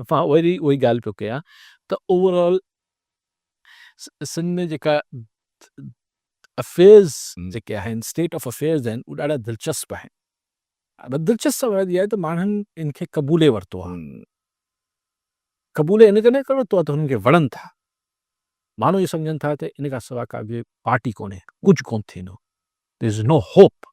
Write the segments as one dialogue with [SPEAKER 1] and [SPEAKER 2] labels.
[SPEAKER 1] اسان وري اهي ڳالهه پيو ڪيا ته اوور آل سنڌ ۾ جيڪا افيئرز جيڪي آهن اسٽيٽ آف افيئرز آهن اهي ڏاڍا دلچسپ آهن. دلچسپ سبب اها آهي ته ماڻهن ان کي قبولي ورتو آهي. قبولي ان ڪري ورتو آهي ته هنن کي وڻن ٿا. ماڻهو اهو سمجهن ٿا ته ان کان سواء ڪا ٻي پارٽي ڪونهي ڪجهه ڪونه ٿيندو. There is no hope.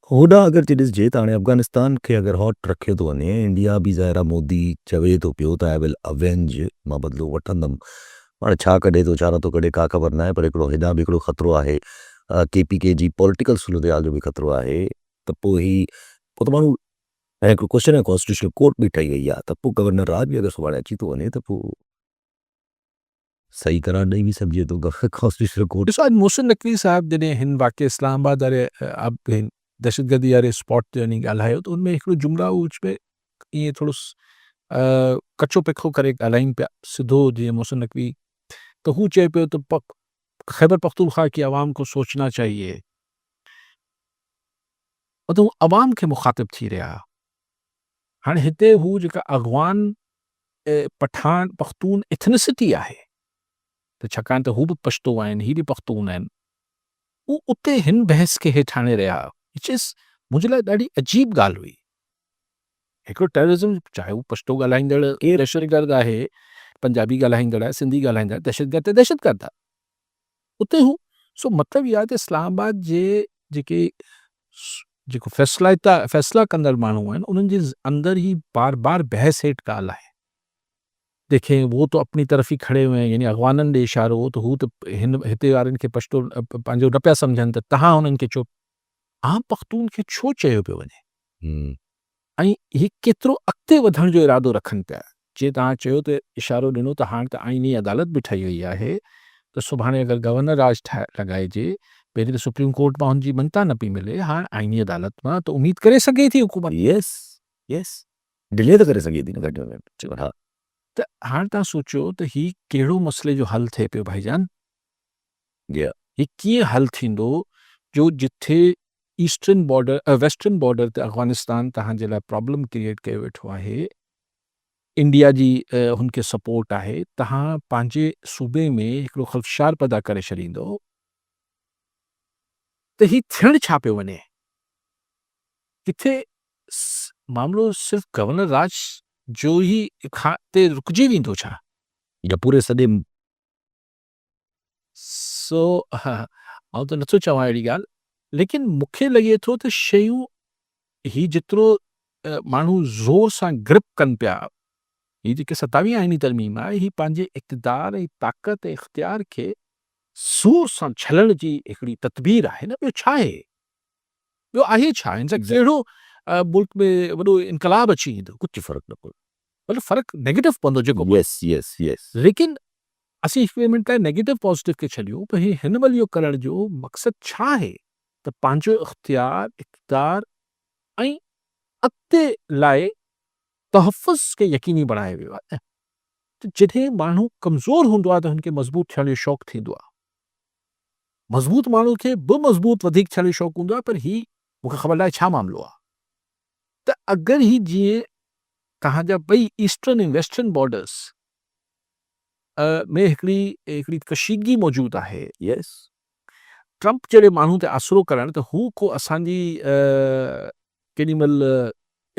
[SPEAKER 2] هوڏانهن اگر جي ڏسجي ته هاڻي افغانستان کي اگر هاٽ رکيو ٿو وڃي ۽ انڊيا به ظاهر آهي مودي چوي ٿو پيو ته آء ول اوينج مان بدلو وٺندم هاڻي ڇا ڪڍي ٿو ڇا نٿو ڪڍي ڪا خبر ناهي پر هڪڙو هيڏانهن به هڪڙو خطرو آهي ڪي پي ڪي جي پولٽيڪل صورتحال جو به خطرو آهي ته پوء هي پوء ته ماڻهو ۽ هڪڙو ڪوشچن آهي ڪانسٽيٽيوشنل ڪورٽ به ٺهي وئي آهي ته پوء گورنر راء به اگر سڀاڻي اچي ٿو وڃي ته پوء. صحيح قرار ڏئي به سگهجي ٿو ته فقه هائوس ڏس رپورٽ. ڏسو اڄ محسن نقوي
[SPEAKER 1] صاحب جڏهن هن واقعي اسلام آباد واري دهشتگردي واري اسپاٽ تي وڃي ڳالهايو ته ان ۾ هڪڙو جملا هو وچ ۾ ائين ٿورو ڪچو پکو ڪري ڳالهائين پيا سڌو جيئن محسن نقوي ته هو چئي پيو ته خيبر پختونخوا ڪي عوام ڪو سوچنا چاهيي مطلب عوام کي مخاطب ٿي رهيا هاڻي هتي هو جيڪا اغوان پٺاڻ پختون ايٿنسٽي آهي ته ڇاڪاڻ ته هو به پشتو آهن هي به پختون آهن هو اتي هن بحث کي هيٺ آڻي رهيا وچ از منهنجي لاء ڏاڍي عجيب ڳالهه هئي هڪڙو ٽيررزم چاهي هو پشتو ڳالهائيندڙ دهشتگرد آهي پنجابي ڳالهائيندڙ آهي سنڌي ڳالهائيندڙ دهشتگرد ته دهشتگرد آهي اتي هو سو مطلب اهو آهي ته اسلام آباد جي جيڪي جيڪو فيصلا فيصلا ڪندڙ ماڻهو آهن انهن جي اندر هي بار بار بحث هيٺ ڳالهه آهي دیکھیں وہ تو اپنی طرف ہی کھڑے ہوئے ہیں یعنی اغوانن ڏي اشارو تو هو ته هن هتي وارن کي پشتو پنهنجو نه پيا سمجھن ته تهان هنن کي چو عام پختون کي ڇو چيو پيو وڃي ۽ اهي ڪيترو اڳتي وڌڻ جو ارادو رکن پيا. جيئن توهان چيو ته اشارو ڏنو ته هاڻ ته آئيني عدالت به ٺهي وئي آهي ته سڀاڻي اگر گورنر راڄ لڳائجي، پهرين ته سپريم ڪورٽ مان هن جي مڃتا نه پئي ملي، هاڻ آئيني عدالت مان ته اميد ڪري سگهي ٿي حڪومت. يس
[SPEAKER 2] يس ڊلي ته ڪري سگهي ٿي نه گهٽ ۾ گهٽ چيو ها. ته هاڻ
[SPEAKER 1] توهان سوچيو ته هي ڪهڙو مسئلي جو حل ٿئي پيو ڀائيجان. گيا. هي ڪيئن حل ٿيندو جو جتي ايسٽرن بارڊر ويسٽرن بارڊر تي افغانستان توهان جي لاء پرابلم ڪريئيٽ ڪيو ويٺو آهي انڊيا جي هن کي سپورٽ آهي توهان پنهنجي صوبي ۾ هڪڙو خلفشار پيدا ڪري ڇڏيندو ته هي ٿيڻ ڇا پيو وڃي ڪٿي معاملو صرف گورنر راج جو هي کان تي رڪجي ويندو ڇا يا پوري
[SPEAKER 2] سڄي
[SPEAKER 1] سو آئون ته نٿو چوان اهڙي ڳالهه ليڪن مون کي لڳي ٿو ته شيون هي جيترو ماڻهو زور سان گرپ ڪن پيا هي جيڪي ستاوي آئيني ترميم آهي هي پنهنجي اقتدار ۽ طاقت ۽ اختيار کي زور سان ڇلڻ جي هڪڙي تدبير آهي نه ٻيو ڇا آهي ٻيو آهي ڇا هن سان ڪهڙو ملڪ ۾ وڏو انقلاب اچي ويندو ڪجهه فرق نه پوندو
[SPEAKER 2] مطلب فرق
[SPEAKER 1] نيگيٽو پوندو جيڪو به يس يس يس
[SPEAKER 2] ليڪن
[SPEAKER 1] اسين هڪ ٻئي منٽ لاء نيگيٽو پازيٽو کي ڇڏيون ته هي هن مهل اهو ڪرڻ جو مقصد ڇا آهي ته پنهنجو اختيار اقتدار ۽ اڳتي لاء تحفظ کي يقيني بڻايو ويو آهي ته جڏهن ماڻهو ڪمزور هوندو آهي ته هن کي مضبوط ٿيڻ جو شوق ٿيندو آهي مضبوط ماڻهو کي به مضبوط وڌيڪ ٿيڻ جو شوق هوندو آهي پر هي مون کي خبر ناهي ڇا معاملو آهي ته اگر هي جيئن توهان جا ٻئي ايسٽرن ۽ ويسٽرن بارڊرز ۾ هڪڙي هڪڙي ڪشيدگي موجود آهي يس ٽرمپ جهڙي ماڻهو تي آسرو ڪرڻ ته هو ڪو اسان جي ڪيڏي مهل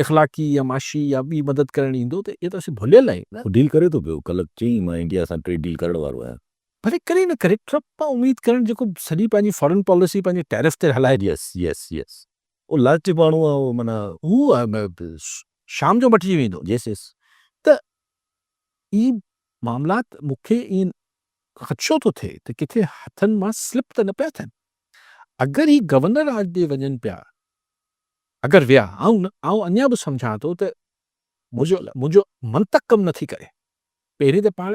[SPEAKER 1] اخلاقي يا معاشي يا ٻي مدد ڪرڻ ايندو ته اهي ته اسين ڀليل آهيون نه. هو ڊيل ڪري ٿو پيو
[SPEAKER 2] ڪلهه چيائين مان انڊيا سان ٽريڊ ڊيل ڪرڻ وارو آهيان. ڀلي ڪري نه ڪري
[SPEAKER 1] ٽرمپ مان اميد ڪرڻ جيڪو سڄي پنهنجي فارن پاليسي پنهنجي ٽيرف تي هلائي ٿو. Yes yes yes.
[SPEAKER 2] هو لالچي ماڻهو آهي هو معنيٰ. هو
[SPEAKER 1] شام جو مٽجي ويندو. يس يس ته اهي معاملات مون کي ائين خدشو ٿو ٿئي ته ڪٿي هٿن مان سلپ ته نه پيا ٿين. اگر هي گورنر راڄ ڏي وڃن پيا اگر ويا آئون آئون اڃا به سمجهان ٿو ته منهنجو منهنجو منطق ڪم نٿي ڪري. پهرين ته پاڻ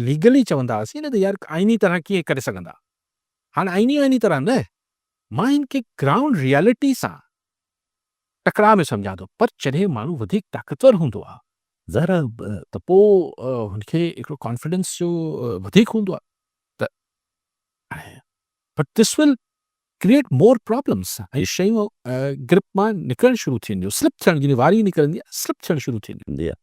[SPEAKER 1] ليگلي چوندا هئاسين نه ته يار آئيني طرح ڪيئن ڪري سگهندا. هاڻ آئيني آئيني طرح نه مان هن کي گرائونڊ ريئلٽي سان ٽڪراء ۾ سمجهان ٿو پر جڏهن ماڻهو وڌيڪ طاقتور هوندو آهي ظاهر آهي
[SPEAKER 2] ته پوء
[SPEAKER 1] هن کي هڪڙو ڪانفيڊنس جو وڌيڪ هوندو آهي ته but this will create more problems ۽ شيون گرپ مان نڪرڻ شروع ٿينديون سلپ ٿيڻ
[SPEAKER 2] جي
[SPEAKER 1] واري نڪرندي سلپ ٿيڻ شروع ٿينديون